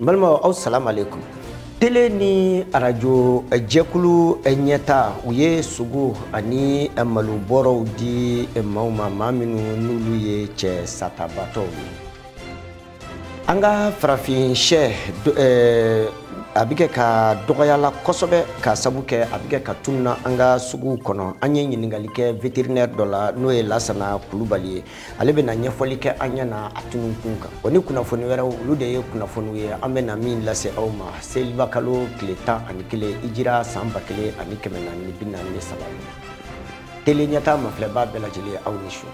n balimaw aw salam aleykum tele ni arajo eh, jɛkulu eh, ɲɛtaa u ye sogo ani eh, malobɔrɔw di maaw ma maa minnu n'olu ye dɛsɛbaatɔw ye an ka farafin shɛ a bɛ kɛ ka dɔgɔyala kosɛbɛ k'a sabu kɛ a bɛ kɛ ka tununa an ka suguw kɔnɔ an ye ɲininkali kɛ vétérinaire dɔ la n'o ye lasana kulubali ye ale bɛna ɲɛfɔli kɛ an ɲɛ na a tununkun kan o ni kunnafoni wɛrɛw olu de ye kunnafoniw ye an bɛna min lase aw ma seliba kalo tile tan ani kelen hijira san ba kelen ani kɛmɛ naani ni bi naani ni saba ye tele ɲɛtaa mafilɛbaa bɛɛ lajɛlen ye aw ni su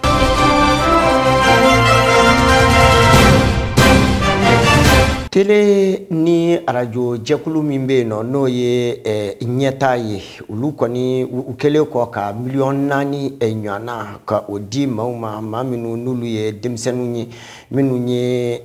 tele ni arajo jɛkulu min bɛ yen nɔ n'o ye eh, ɲɛtaa ye olu kɔni u kɛlen kɔ ka miliyɔn naani ɲɔana ka o di maaw ma maa minnu n'olu ye denmisɛnninw ye minnu ye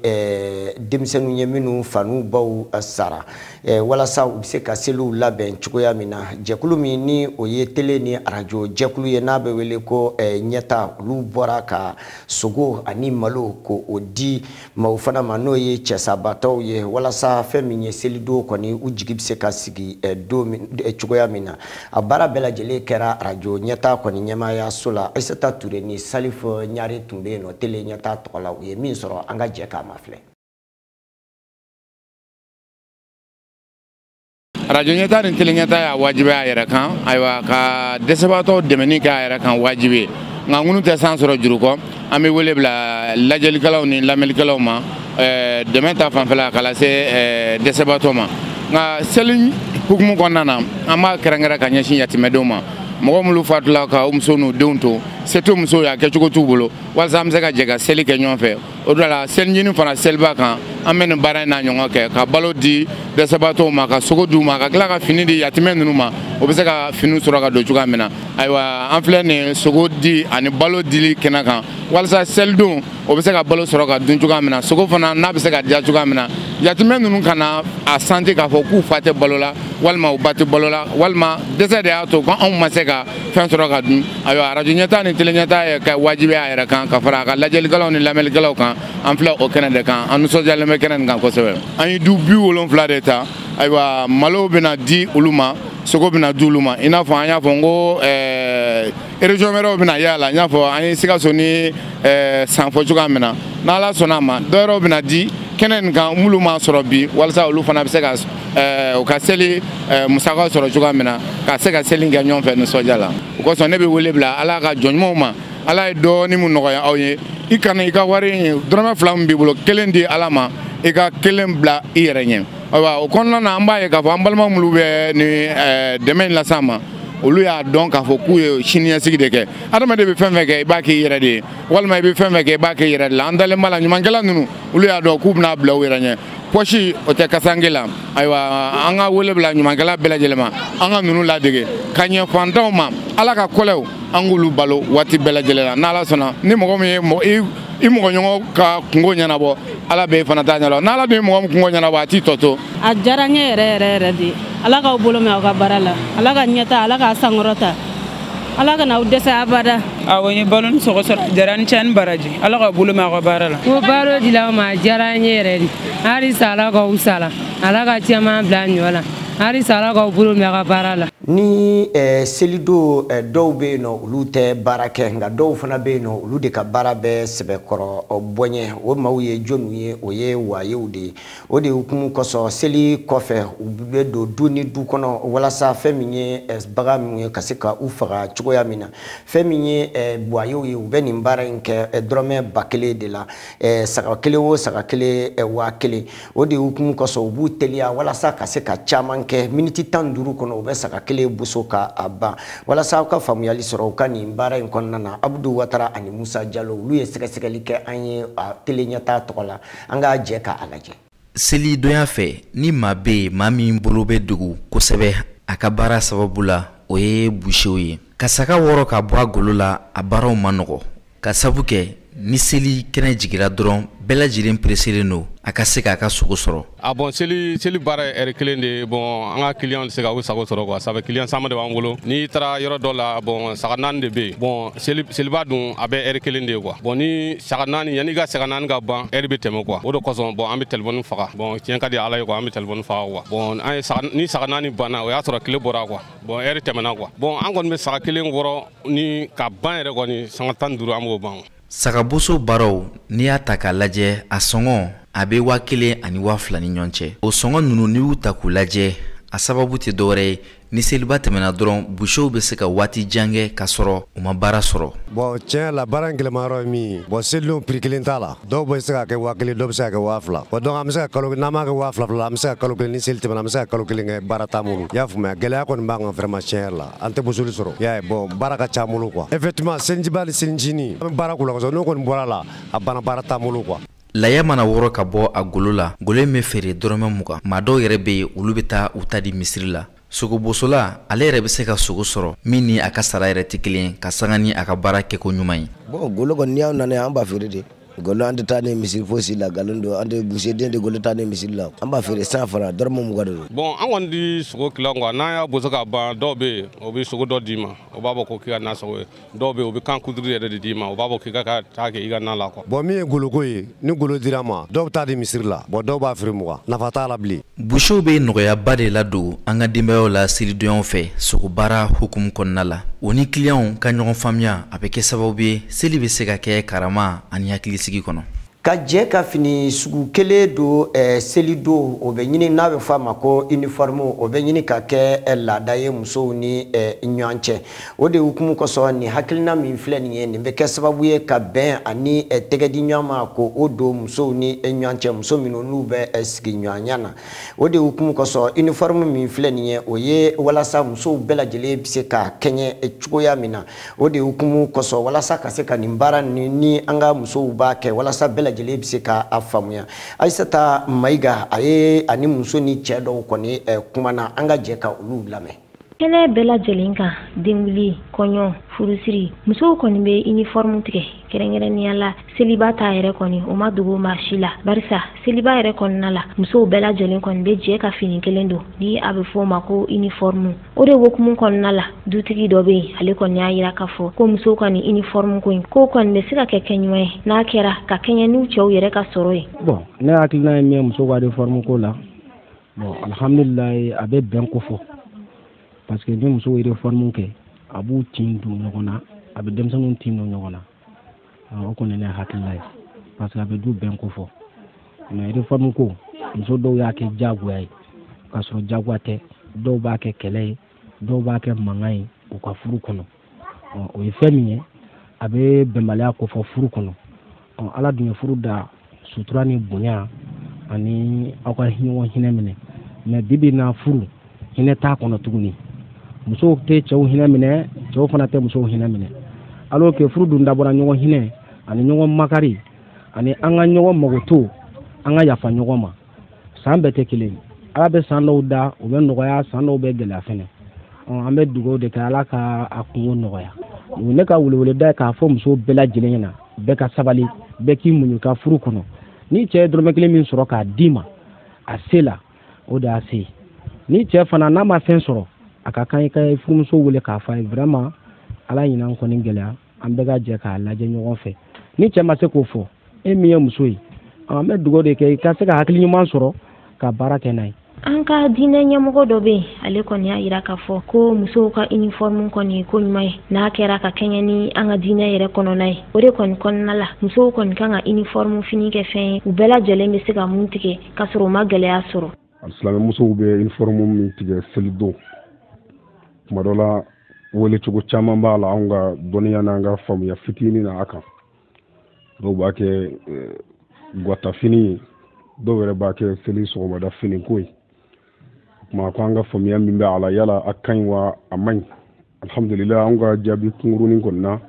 denmisɛnninw ye minnu fa n'u baw sara walasa u bɛ se ka seliw labɛn cogoya min na jɛkulu min ni o ye tele ni arajo jɛkulu ye n'a bɛ wele ko ɲɛtaa olu bɔra ka sogo ani malo k'o di maaw fana ma n'o ye dɛsɛbaatɔw ye walasa fɛn min ye selidon kɔni u jigi bɛ se ka sigi eh, don min eh, cogoya min na a baara bɛɛ lajɛlen kɛra arajo ɲɛtaa kɔni ɲɛmaayaso la ayisata ture ni salif ɲare tun bɛ yen nɔ tele ɲɛtaa tɔgɔ la u ye min sɔrɔ an ka jɛ k'a mafilɛ arajo ɲɛtaa ni tele ɲɛtaa y'a wajibi a yɛrɛ kan ayiwa ka dɛsɛbaatɔw dɛmɛni kɛ a yɛrɛ kan wajibi ye nka ŋunu tɛ san sɔrɔ juru kɔ an bɛ wele bila lajɛlikɛlaw ni lamɛnlikɛlaw ma eh, dɛmɛ ta fanfɛla k'a lase eh, dɛsɛbaatɔ ma nka seli hukumu kɔnɔna na an b'a kɛrɛnkɛrɛn ka ɲɛsin yatimɛdenw ma mɔgɔ minnu fatula ka u muso n'u denw to se t'o musow y'a kɛcogo t'u bolo walasa an bɛ se ka jɛ ka seli kɛ ɲɔgɔn fɛ o de la selincinin fana seliba kan an bɛ nin baara in na ɲɔgɔn kɛ ka balo di dɛsɛbaatɔw ma ka sogo d'u ma ka tila ka fini di yatimɛ ninnu ma u bɛ se ka finiw sɔrɔ ka don cogoya min na ayiwa an filɛ nin sogo di ani balo dili kɛnɛ kan walasa selidon u bɛ se ka balo sɔrɔ ka dun cogoya min na sogo fana n'a bɛ se ka diya cogoya min na yatimɛ ninnu kana a santi k'a fɔ k'u fa tɛ balo la walima u ba tɛ balo la walima dɛsɛ de y'a to ko anw ma se ka fɛn sɔrɔ ka dun ayiwa arajo ɲɛtaa ni tele ɲɛtaa ye ka wajibi a yɛrɛ kan ka fara a ka lajɛlikɛlaw ni lamɛnlikɛlaw kan an filɛ o kɛnɛ de kan an nisɔndiyalen bɛ kɛnɛ nin kan kosɛbɛ an ye du bi wolonfila de ta ayiwa malo bɛna di olu ma sogo bɛna di olu ma i n'a fɔ an y'a fɔ n ko eh, région wɛrɛw bɛna yaala n y'a fɔ an ye sikaso ni eh, san fɔ cogoya min na n'ala sɔnna a ma dɔ wɛrɛw bɛna di kɛnɛ nin kan minnu m'a sɔrɔ bi walasa olu fana bɛ se ka eh, u ka seli eh, musakaw sɔrɔ cogoya min na ka se ka seli kɛ ɲɔgɔn fɛ nisɔndiya la o kosɔn ne bɛ wele bila ala ka jɔn ɲumanw ma ala ye dɔɔni min nɔgɔya aw ye i kana i ka wari in dɔrɔmɛ fila min b'i bolo kelen di ala ma i ka kelen bila i yɛrɛ ɲɛ ayiwa o kɔnɔna na an b'a ye k'a fɔ an balima minnu bɛ ni eh, dɛmɛ in las'an ma olu y'a dɔn k'a fɔ k'u ye siniɲɛsigi de kɛ adamaden bɛ fɛn fɛn kɛ i b'a k'i yɛrɛ de ye walima i bɛ fɛn fɛn kɛ i b'a k'i yɛrɛ de la an dalen b'a la ɲumankɛla ninnu olu y'a dɔn k'u bɛn'a bila u yɛrɛ ɲɛ pɔsi o tɛ kasange la ayiwa an ka wele bila ɲumankɛla bɛɛ lajɛlen ma an ka ninnu ladege ka ɲɛ fantanw ma ala ka kɔlɛw an k'olu balo waati bɛɛ lajɛlen la n'ala sɔnna ni mɔgɔ min ye i mɔgɔɲɔgɔn ka kungo ɲɛnabɔ ala bɛ i fana ta ɲɛdɔn n'ala dun ye mɔgɔ min kungo ɲɛnabɔ a t'i tɔ to a diyara n ye yɛrɛ yɛrɛ yɛrɛ de ala k'aw bolo mɛn aw ka baara la ala ka ɲɛta ala k'a sankɔrɔta ala kana aw dɛsɛ abada awɔ n ye balo ni sogo sɔrɔ diyara a ni ce a ni baraji ala k'aw bolo mɛn aw ka baara la ko balo dila ma a diyara n ye yɛrɛ de halisa ala k'aw sala ala ka caman bila a ɲɔ la halisa ala k'aw bolo mɛ aw ka baara la ni eh, selidon eh, dɔw bɛ yen nɔ olu tɛ baara kɛ nka dɔw fana bɛ yen nɔ olu de ka baara bɛ sɛbɛkɔrɔ bonya o maaw ye jɔniw ye o ye wayew de ye o de hukumu kosɔn seli kɔfɛ u bɛ don du ni du kɔnɔ walasa fɛn min ye eh, bagan minnu ye ka se ka u faga cogoya min na fɛn min ye eh, bu wayew ye u bɛ nin baara in kɛ eh, dɔrɔmɛ ba kelen de la saga kelen o saga kelen waa kelen o de hukumu kosɔn u b'u teliya walasa ka se ka caman kɛ miniti tan ni duuru kɔnɔ u bɛ saga kelen boso ka a ban walasa aw ka faamuyali sɔrɔ u ka nin baara in kɔnɔna na abudu watara ani musa jalo olu ye sɛgɛsɛgɛli kɛ an ye tele ɲɛtaa tɔgɔ la an ka jɛ k'a lajɛ selidonya fɛ ni maa bɛ yen maa min bolo bɛ degun kosɛbɛ a ka baara sababu la o ye busew ye ka saga wɔrɔ ka bɔ a golo la a baaraw man nɔgɔn k'a sabu kɛ ni seli kɛnɛ jigira dɔrɔn bɛɛ lajɛlen pereselen don a ka se k'a ka sogo sɔrɔ a bɔn seli seli baara ye ɛri kelen de ye bɔn an ka kiliyan tɛ se ka u sago sɔrɔ kuwa sabu kiliyan caman de b'an bolo n'i taara yɔrɔ dɔ la bɔn saga naani de bɛ yen bɔn seliba dun a bɛɛ ɛri kelen de ye kuwa bɔn ni saga naani yanni i ka saga naani ka ban ɛri bɛ tɛmɛ kuwa o de kosɔn bɔn an bɛ telefɔni faga bɔn tiɲɛ ka di ala ye kuwa an bɛ telefɔni faga kuwa bɔn an ye ni saga naani banna o y'a sɔrɔ tile bɔra kuwa bɔn ɛri tɛmɛna kuwa bɔn an kɔni bɛ saga kelen wɔrɔ ni ka ban yɛrɛ kɔni sanga tan ni duuru an b'o ban sagaboso baaraw n'i y'a ta k'a lajɛ a sɔngɔ a bɛ waa kelen ani waa fila ni ɲɔgɔn cɛ o sɔngɔ ninnu n'i y'u ta k'u lajɛ a sababu tɛ dɔwɛrɛ ye ni seliba tɛmɛna dɔrɔn busew bɛ se ka waati jan kɛ ka sɔrɔ u ma baara sɔrɔ bɔn tiɲɛ la baara in gɛlɛmayɔrɔ ye min ye bɔn selidonw piri kelen t'a la dɔw bɛ se ka kɛ waa kelen dɔw bɛ se ka kɛ waa fila bɔn donc an bɛ se ka kalo n'an b'a kɛ waa fila fila an bɛ se ka kalo kelen ni seli tɛmɛna an bɛ se ka kalo kelen kɛ baara t'an bolo i y'a faamuya gɛlɛya kɔni b'an kan vraiment tiɲɛ yɛrɛ la an tɛ bosoli sɔrɔ i y'a ye bɔn baara ka c'an bolo quoi effectivement selijiba ni selicinin an bɛ baara k'u la kosɛbɛ n'o kɔni bɔra la a banna baara t'an bolo quoi Laya mana wɔrɔ ka bɔ a golo la, golo in bɛ feere dɔrɔmɛ mugan. Maa dɔw yɛrɛ bɛ yen, olu bɛ taa u ta di misiri la. Sogobosola, ale yɛrɛ bɛ se ka sogo sɔrɔ min ni a ka sara yɛrɛ tɛ kelen, ka sanga ni a ka baara kɛko ɲuman ye. Bon golo kɔni, ni aw nana yan, an b'a feere de. Golo an tɛ taa ni misiri fosi la, nkalon don. An tɛ busiden tɛ golo taa ni misiri la. An b'a feere cent francs, dɔrɔmɛ mugan de don. Bon an kɔni tɛ sogo tilan quoi n'an y'a boso ka ban, dɔw bɛ yen, o bɛ sogo dɔ d'i ma, o b'a fɔ ko k'i ka na sogo ye. dɔw bɛ o bɛ kan kuturu yɛrɛ de d'i ma o b'a fɔ k'i ka ka taa kɛ i ka na la quoi. bɔn min ye goloko ye ni golo dira ma dɔw bɛ taa di misiri la bɔn dɔw b'a feere mugan nafa t'a la bilen. busiw bɛ nɔgɔyaba de ladon an ka denbayaw la selidonyaw fɛ sogobaara hukumu kɔnɔna la o ni kiliyanw ka ɲɔgɔn faamuya a bɛ kɛ sababu ye seli bɛ se ka kɛ karama ani hakilisigi kɔnɔ. ka jɛ ka fini sugu kelen don eh, seli don o bɛ ɲini n'a bɛ fɔ a ma ko uniforme o bɛ ɲini ka kɛ eh, laada ye musow ni eh, ɲɔgɔn cɛ o de hukumu kosɔn nin hakilina min filɛ nin ye nin bɛ kɛ sababu ye ka bɛn ani eh, tɛgɛdi ɲɔgɔn ma ko o don musow ni eh, ɲɔgɔn cɛ muso minnu n'u bɛ eh, sigiɲɔgɔnya na o de hukumu kosɔn uniforme min filɛ nin ye o ye walasa musow bɛɛ lajɛlen bɛ se ka kɛɲɛ eh, cogoya min na o de hukumu kosɔn walasa ka se ka nin baara ni ni an ka musow b'a kɛ walasa bɛɛ lajɛlen bɛ se ka a faamuya ayisata mayiga a ye ani muso ni cɛ dɔw kɔni eh, kumana an ka jɛ ka olu lamɛn kɛnɛ bɛɛ lajɛlen kan denwuli kɔɲɔ furusiri musow kɔni bɛ inifɔrmu tigɛ kɛrɛnkɛrɛnnenya la seliba ta yɛrɛ kɔni o ma dogo maa si la barisa seliba yɛrɛ kɔnɔna la musow bɛɛ lajɛlen kɔni bɛ jɛ ka fini kelen don ni a bɛ fɔ o ma ko inifɔrmu o de hukumu kɔnɔna la dutigi dɔ bɛ yen ale kɔni y'a yira k'a fɔ ko musow ka nin inifɔrmu ko in k'o kɔni bɛ se ka kɛ kɛɲuman ye n'a kɛra ka kɛɲɛ n'u cɛw yɛrɛ ka sɔrɔ ye bɔn ne hakilina ye min ye musow ka inifɔrmu ko la bɔn alhamdulilayi a bɛ bɛn kofɔ parce que ni musow ye inifɔrmu kɛ a b'u tin don ɲɔgɔn na a bɛ denmisɛnninw tin don ɲɔgɔn na o kɔni ne hakilila ye parce que a bɛ du bɛn kofɔ mais réforme ko muso dɔw y'a kɛ diyagoya ye k'a sɔrɔ diyagoya tɛ dɔw b'a kɛ kɛlɛ ye dɔw b'a kɛ mankan ye u ka furu kɔnɔ o ye fɛn min ye a bɛ bɛnbaliya kofɔ furu kɔnɔ ala dun ye furu da sutura ni bonya ani aw ka ɲɔgɔn hinɛ minɛ mais bibi na furu hinɛ t'a kɔnɔ tuguni musow tɛ cɛw hinɛ minɛ cɛw fana tɛ musow hinɛ minɛ alors que furu dun dabɔra ɲɔgɔn hinɛ ani ɲɔgɔn makari ani an ka ɲɔgɔn makoto an ka yafa ɲɔgɔn ma san bɛɛ tɛ kelen ala bɛ san dɔw da u bɛ nɔgɔya san dɔw bɛ gɛlɛya fɛnɛ an bɛ dugawu de kɛ ala ka a kunko nɔgɔya ne ka weleweleda ye k'a fɔ musow bɛɛ lajɛlen ɲɛna bɛɛ ka sabali bɛɛ k'i muɲu ka furu kɔnɔ ni cɛ ye dɔrɔmɛ kelen min sɔrɔ k'a d'i ma a se la o de y'a se ni cɛ fana n'a ma fɛn sɔrɔ a ka kan i ka furumuso wele k'a fɔ a ye vraiment ala ɲinan kɔni gɛlɛya an bɛɛ ka jɛ k'a lajɛ ɲɔgɔn fɛ ni cɛ ma se k'o fɔ e min ye muso ye an bɛ dugawu de kɛ i ka se ka hakili ɲuman sɔrɔ ka baara kɛ n'a ye an ka diinɛ ɲɛmɔgɔ dɔ bɛ yen ale kɔni y'a jira k'a fɔ ko musow ka iniformu kɔni ye ko ɲuman ye n'a kɛra ka kɛɲɛ ni an ka diinɛ yɛrɛ kɔnɔna ye o de kɔni kɔnɔna la musow kɔni kan ka iniformu fini kɛ fɛn ye u bɛɛ lajɛlen bɛ se ka mun tigɛ k'a sɔrɔ u ma gɛlɛya sɔrɔ alisilamɛ musow bɛ iniformu min tigɛ selidon tuma dɔ la wele cogo caman b'a la anw ka dɔnniya n'an ka faamuya fitinin na a kan dɔw b'a kɛ eh, gwatafini ye dɔw yɛrɛ b'a kɛ seli sɔgɔmada finiko ye o tuma ko an ka faamuya min bɛ a la yala a ka ɲi wa a man ɲi alhamdulila an ka jaabi kunkurunin kɔni na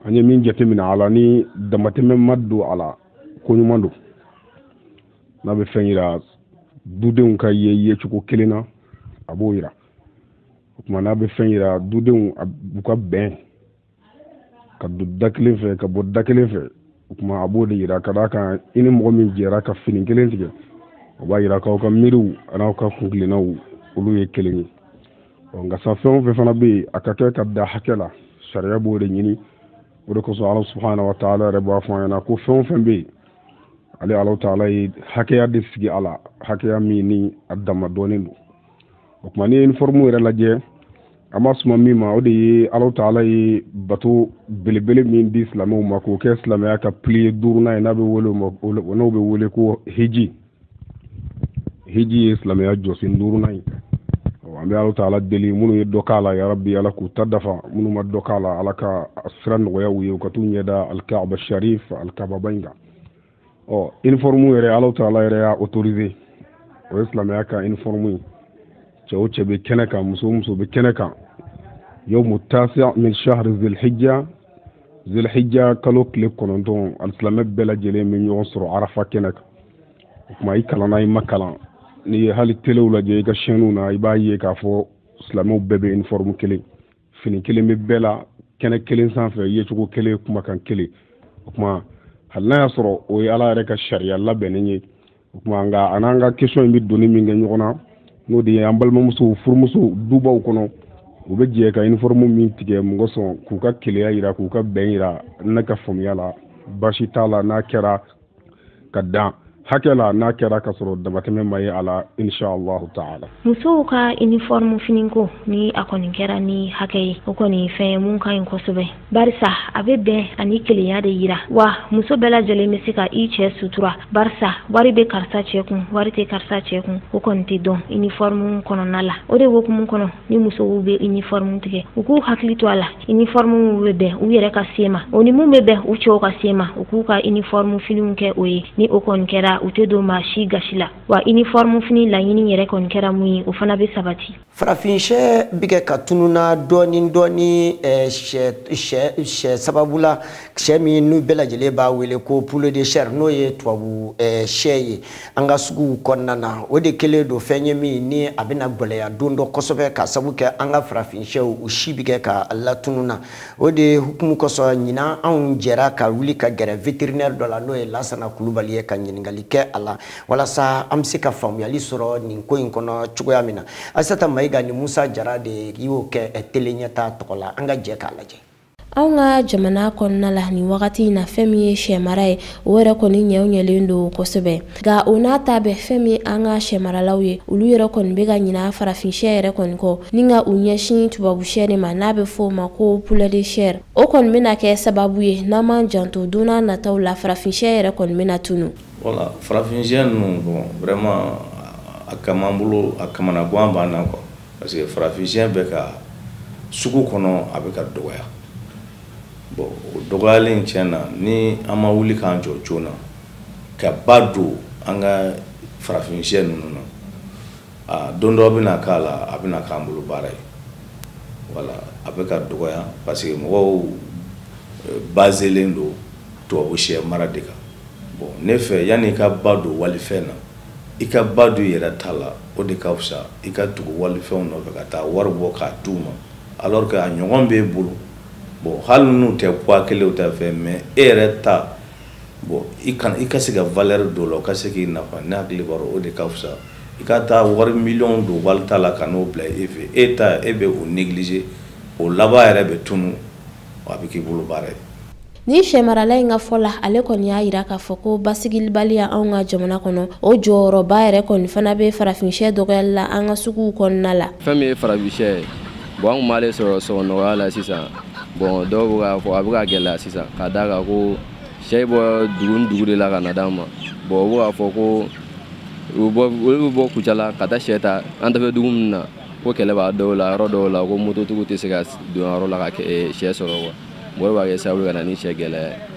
an ye min jateminɛ a la ni damatɛmɛ ma don a la ko ɲuman don n'a bɛ fɛn yira dudenw ka ye yecogo kelen na a b'o yira o tuma n'a bɛ fɛn yira dudenw u ka bɛn ka don da kelen fɛ ka bɔ da kelen fɛ o tuma a b'o de yira ka d'a kan i ni mɔgɔ min jɛra ka fini kelen tigɛ o b'a yira k'aw ka miiriw an'aw ka kuntilennaw olu ye kelen ye ɔ nka sa fɛn o fɛn fana bɛ yen a ka kɛ ka da hakɛ la sariya b'o de ɲini o de kosɔn ala subahana wa taala yɛrɛ b'a fɔ an ɲɛna ko fɛn o fɛn bɛ yen ale ala taala ye hakɛya de sigi a la hakɛya min ni a dama dɔɔnin don o tuma n'i ye iniformu yɛrɛ lajɛ an b'a suma min ma o de ye ala taala ye bato belebele min di silamɛw ma k'o kɛ silamɛya ka piliye duurunan ye n'a bɛ wele n'o bɛ wele ko hiji hiji ye silamɛya jɔsen duurunan ye an bɛ ala taala deli minnu ye dɔ k'a la ya rabi ala k'u ta dafa minnu ma dɔ k'a la ala ka sira nɔgɔya u ye u ka t'u ɲɛda alikaba sharif alikaba ba in kan ɔ iniforumu yɛrɛ ala taala yɛrɛ y'a otorize o ye silamɛya ka iniforumu ye cɛ o cɛ bɛ kɛnɛ kan muso o muso bɛ kɛnɛ kan yawmu tasiya min shahri zilhijja zilhijja kalo tile kɔnɔntɔn alisilamɛ bɛɛ lajɛlen bɛ ɲɔgɔn sɔrɔ arafa kɛnɛ kan o tuma i kalanna i ma kalan n'i ye hali telew lajɛ i ka sɛniw na i b'a ye k'a fɔ silamɛw bɛɛ bɛ iniforumu kelen fini kelen bɛ bɛɛ la kɛnɛ kelen sanfɛ yecogo kelen kumakan kelen o tuma hali n'a y'a sɔrɔ o ye ala yɛrɛ ka sariya labɛnnen ye o tuma nka a n'an ka kɛsiyɔn in bɛ doni min kɛ ɲɔgɔn na n'o de ye an balimamusow furumusow dubaw kɔnɔ u bɛ jɛ ka iniforumu min tigɛ mun kosɔn k'u ka kelenya yira k'u ka bɛn yira ne ka faamuya la baasi t'a la n'a kɛra ka dan hakɛ la n'a kɛra ka sɔrɔ damatɛmɛ ma ye a la inshallahu taala musow ka uniforme finiko ni a kɔni kɛra ni hakɛ ye o kɔni fɛn ye mun ka ɲi kosɛbɛ barisa a bɛ bɛn ani kelenya de yira wa muso bɛɛ lajɛlen bɛ se ka i cɛ sutura barisa wari bɛ karisa cɛ kun wari tɛ karisa cɛ kun o kɔni tɛ dɔn uniforme kɔnɔna la o de hukumu kɔnɔ ni musow bɛ uniforme tigɛ u k'u hakili to a la uniforme mun bɛ bɛn u yɛrɛ ka se ma o ni mun bɛ bɛn u cɛw ka se ma u k'u ka uniforme finiw kɛ o ye ni o kɔni kɛra u tɛ don maa si gasi la wa uniforme fini laɲini yɛrɛ kɔni kɛra mun ye o fana bɛ sabati farafinshɛ bɛ kɛ ka tununa dɔɔni dɔɔni eh, sɛ sababu la sɛ min ni bɛɛ lajɛlen b'a wele ko poulet de chair n'o ye tubabu eh, sɛ ye an ka suguw kɔnɔna na o de kɛlen don fɛn ye min ni a bɛna gwɛlɛya don dɔ kosɛbɛ k'a sabu kɛ an ka farafinshɛw u si bɛ kɛ ka latunu na o de hukumu kosɔn ɲinan anw jɛra ka wuli ka gɛrɛ vétérinaire dɔ la n'o ye lasana kulubali ye ka ɲininkali kɛ a la walasa an bɛ se ka faamuyali sɔrɔ nin ko in kɔnɔ cogoya min na asata mayiga ni musa jara de y'o kɛ tele ɲɛta tɔgɔ la an ka jɛ k'a lajɛ anw ka jamana kɔnɔna la nin wagati in na fɛn min ye sɛmara ye o yɛrɛ kɔni ɲɛ o ɲɛlen don kosɛbɛ nka o n'a ta bɛɛ fɛn min an ka sɛmaralaw ye olu yɛrɛ kɔni bɛ ka ɲina farafinsyɛ yɛrɛ kɔni kɔ ni ka u ɲɛsin tubabusyɛ de ma n'a bɛ fɔ o ma ko poulet de chair o kɔni bɛna kɛ sababu ye n'an m'an janto don na nataw la farafinsyɛ yɛrɛ kɔni bɛna tunu voilà farafinsyɛ ninnu bon vraiment a kaman bolo a kamanagan b'an na quoi parce que farafinsyɛ bɛ ka sugu kɔnɔ a bɛ ka dɔgɔya bon o dɔgɔyalen tiɲɛ na ni an ma wuli k'an jɔ joona ka ba don an ka farafinsyɛ ninnu na aa don dɔ bɛna k'a la a bɛna k'an bolo baara ye voilà a bɛ ka dɔgɔya parce que mɔgɔw eh, baselen don tubabusyɛ mara de kan bon ne fɛ yanni i ka ba don walifɛn na i ka ba don i yɛrɛ ta la o de ka fisa i ka tugu walifɛnw nɔfɛ ka taa wari bɔ k'a di u ma alors que a ɲɔgɔn b'e bolo bon hali n'u tɛ poids kelen u tɛ fɛn mais e yɛrɛ ta bon i ka i ka se ka valeur don o la o ka se k'i nafa ne hakili b'a dɔn o de ka fisa i ka taa wari miliyɔn don walita la ka n'o bila e fɛ e ta e bɛ o négliger o laban yɛrɛ bɛ tunu a bɛ k'i bolo baara ye. Nin sɛmarala in ka fɔ la ale kɔni y'a yira k'a fɔ ko basigilibaliya anw ka jamana kɔnɔ o jɔyɔrɔba yɛrɛ kɔni fana bɛ farafinsyɛ dɔgɔyali la an ka suguw kɔnɔna la fɛn min ye farafinsyɛ ye bon an kun b'ale sɔrɔ sɔngɔ nɔgɔya la sisan bon dɔw bɛ k'a fɔ a bɛ ka gɛlɛya sisan ka d'a kan ko sɛ bɛ bɔ dugu ni dugu de la ka na d'an ma bon u bɛ k'a fɔ ko olu bɛ bɔ kucala ka taa sɛ ta an kɛrɛfɛ dugu min na ko kɛlɛ b'a dɔw la yɔrɔ dɔw la ko mototigiw tɛ se ka don yɔrɔ la ka eh, sɛ sɔrɔ quoi bon o b'a kɛ sababu ka na ni sɛ gɛlɛya ye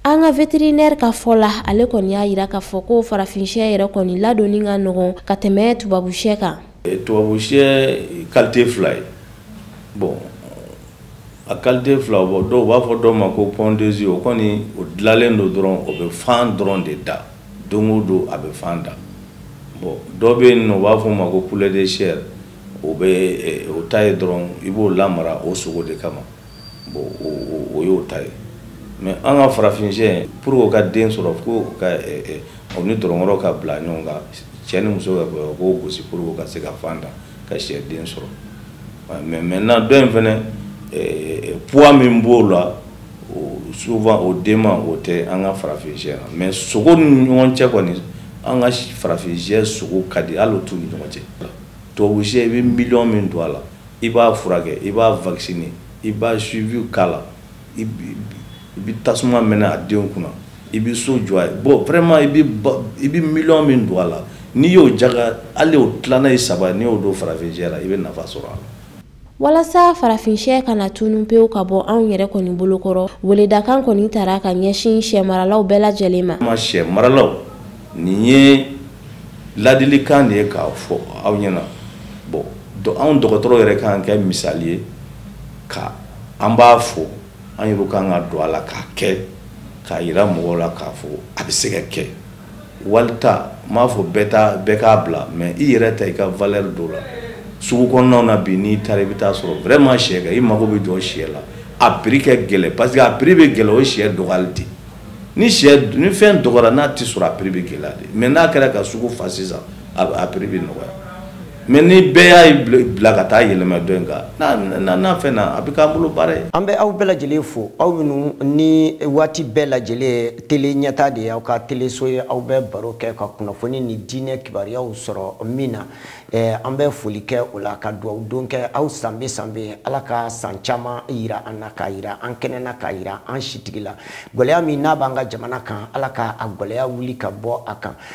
an ka vétérinaire ka fɔ la ale kɔni y'a yira k'a fɔ ko farafinshɛ yɛrɛ kɔni ladonni ka nɔgɔn ka tɛmɛ tubabushɛ kan eh, tubabushɛ qualité fila ye bon a qualité fila bon dɔw b'a fɔ dɔ ma ko pondeuse o kɔni o dilalen don dɔrɔn o bɛ fan dɔrɔn de da don o don a bɛ fan da bon dɔ bɛ yen nɔ u b'a fɔ o ma ko poulet de chair o bɛ eh, o ta ye dɔrɔn i b'o lamara o sogo de kama bon o o y'o ta ye mais an ka farafin sɛ pour o ka den sɔrɔ fo ka eh, eh, o ni dononkɔrɔ ka bila ɲɔgɔn kan cɛ ni muso ka o k'o gosi pour o ka se ka fan da ka sɛ den sɔrɔ mais maintenant dɔ in fana poids min b'o la souvent o dama o tɛ an ka farafin sɛ la mais sogo ni ɲɔgɔn cɛ kɔni an ka farafin sɛ sogo ka di hali o t'u ni ɲɔgɔn cɛ tubabu sɛ i bɛ miliyɔn min don a la i b'a furakɛ i b'a vacciner i b'a suivi k'a la i bɛ tasuma mɛnɛ a denw kunna i bɛ so jɔ a ye bon vraiment i bɛ miliyɔn min don a la n'i y'o ja hali o tilalen ye saba n'i y'o don farafin sɛ la i bɛ nafa sɔrɔ a la walasa farafin sɛ kana tunun pewu ka bɔ anw yɛrɛ kɔni bolo kɔrɔ weledakan kɔni taara ka ɲɛsin sɛ maralaw bɛɛ lajɛlen ma ma sɛ maralaw nin ye ladilikan de ye k'a fɔ aw ɲɛna bon anw dɔgɔtɔrɔ yɛrɛ k'an kɛ misali ye ka an b'a fɔ an yɛrɛ k'an ka don a la k'a kɛ k'a yira mɔgɔw la k'a fɔ a bɛ se ka kɛ wali ta n m'a fɔ bɛɛ ta bɛɛ k'a bila mais i yɛrɛ ta i ka valeur don a la sugu kɔnɔnaw na bi n'i taara i bɛ taa sɔrɔ vraiment sɛ kan i mago bɛ jɔ sɛ la a prix ka gɛlɛn parce que a prix bɛ gɛlɛn o ye sɛ dɔgɔyali de ni sɛ ni fɛn dɔgɔyara n'a tɛ sɔrɔ a prix bɛ gɛlɛya de mais n'a kɛra ka sugu fa sisan a prix bɛ nɔgɔya mais ni bɛɛ y'a bila ka taa yɛlɛma dɔ in kan n'a fɛn na a bɛ k'an bolo baara ye an bɛ aw bɛɛ lajɛlen fo aw minnu ni waati bɛɛ lajɛlen tele ɲɛta de ye aw ka teleso ye aw bɛ baro kɛ ka kunnafoni ni diinɛ kibaruyaw sɔrɔ min na eh, an bɛ foli kɛ o la ka dugawu don kɛ aw sanbe sanbe ala ka san caman yira an na k'a yira an kɛnɛ na k'a yira an sitigi la gɛlɛya min n'a b'an ka jamana kan ala ka a gɛlɛya wuli ka bɔ a kan